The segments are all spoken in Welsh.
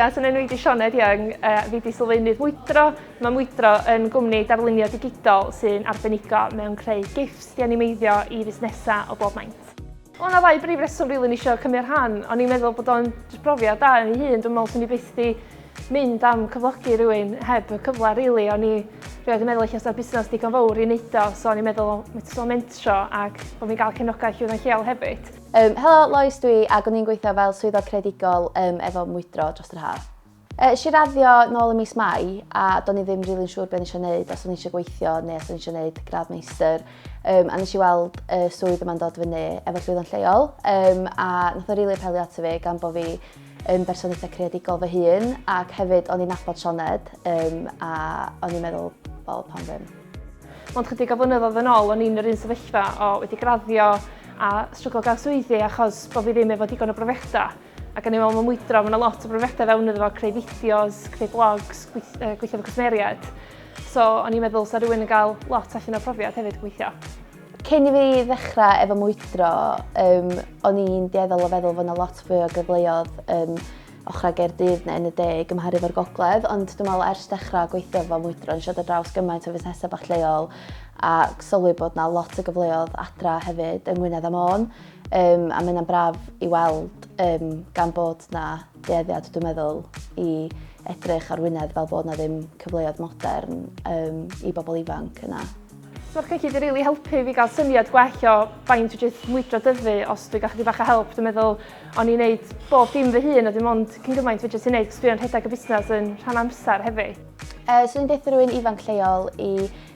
Ia, so nhw'n wedi Sioned Young, uh, fi wedi sylfaenydd Mwydro. Mae Mwydro yn gwmni darlunio digidol sy'n arbenigo mewn creu gifs di animeiddio i fusnesau o bob maint. Wel, na ddau brif reswm rili really, eisiau cymryd rhan. O'n i'n meddwl bod o'n brofiad da yn ei hun. Dwi'n meddwl sy'n ni byth di mynd am cyflogi rhywun heb y cyfle rili. Really. O'n i rhywbeth yn meddwl eich o'r busnes digon fawr i wneud o, so o'n i'n meddwl metro mentro ac bod fi'n cael cefnogaeth yw'n lleol hefyd. Um, helo, Lois dwi, ac o'n i'n gweithio fel swyddog credigol um, efo mwydro dros yr haf. Esh i raddio nôl ym mis Mai a do'n i ddim rili'n siŵr be o'n i eisiau neud, os o'n i eisiau gweithio neu os o'n i eisiau neud gradd meistr. Um, a nes i weld y swydd yma'n dod fyny efo llwyddo'n lleol um, a nath o rili apelio ato fi gan bod fi yn berson eitha creadigol fy hun ac hefyd o'n i'n nabod Sioned um, a o'n i'n meddwl, wel, pan ddim. Ond chydig o flynyddoedd yn ôl, o'n i'n yr un sefyllfa o wedi graddio a stryglo gael swyddi achos bod fi ddim efo digon o brofiadau. Ac o'n i'n meddwl, mae'n mwydro, mae yna lot o brofiadau fewn iddo fo, creu fideos, creu blogs, gweithio efo cwsmeriaid. So, o'n i'n meddwl, sa rhywun yn cael lot allan o'r profiad hefyd gweithio. Cyn i fi ddechrau efo mwydro, um, o'n i'n dieddol o feddwl fod yna lot fwy o gyfleoedd um, ochrau Gaerdydd neu yn y de gymharu fo'r gogledd, ond dwi'n meddwl ers dechrau gweithio efo mwydro, nes i ddod draws gymaint o fusnesau bach lleol a sylwi bod yna lot o gyfleoedd adra hefyd yng Ngwynedd a Môn. Um, a mae hynna'n braf i weld um, gan bod na dueddiad, dwi'n meddwl, i edrych ar Wynedd fel bod na ddim cyfleoedd modern um, i bobl ifanc yna. So mae'r cyllid yn rili really helpu fi gael syniad gwell o faint o jyst mwydro dyfu os dwi'n gallu bach o help. Dwi'n meddwl o'n i'n neud bob dim fy hun a dim ond cyn gymaint fi jyst yn neud cos dwi'n rhedeg y busnes yn rhan amser hefyd. Uh, so dwi'n beth rwy'n ifanc lleol i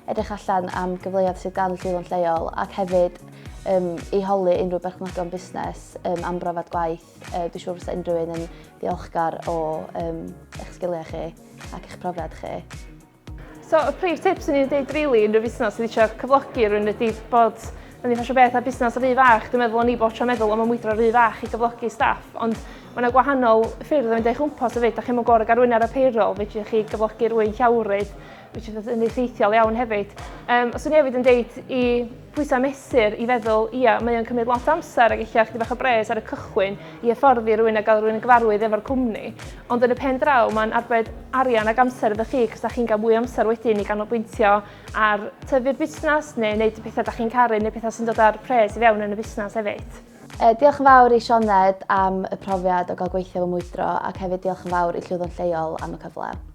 edrych allan am gyfleoedd sydd gan y Swyddfa'n lleol ac hefyd um, i holi unrhyw berchnogion busnes um, am brofiad gwaith. Uh, dwi'n siŵr fysa unrhyw un yn ddiolchgar o um, eich sgiliau chi ac eich profiad chi. So, y prif tips yn i'n dweud rili unrhyw fusnes sydd eisiau cyflogi rhywun ydy bod yn eitha beth a busnes rhy fach. Dwi'n meddwl o'n i bod tro meddwl am y mwydro rhy fach i gyflogi staff, ond mae yna gwahanol ffyrdd o fynd eich gwmpas o fyd. Da chi'n mwyn gorau garwyn ar y payroll, fe chi gyflogi rwy'n llawrydd, Which is yn effeithiol iawn hefyd. Um, os o'n i hefyd yn deud i pwysau mesur i feddwl, ia, mae o'n cymryd lot amser ac eich chdi bach o bres ar y cychwyn i efforddi rhywun a gael rhywun yn gyfarwydd efo'r cwmni. Ond yn y pen draw, mae'n arbed arian ac amser iddo chi, cos da chi'n cael mwy amser wedyn i ganolbwyntio ar tyfu'r busnes neu wneud y pethau da chi'n caru neu pethau sy'n dod ar pres i fewn yn y busnes hefyd. E, diolch yn fawr i Sioned am y profiad o gael gweithio fy mwydro ac hefyd diolch yn fawr i Llwyddon Lleol am y cyfle.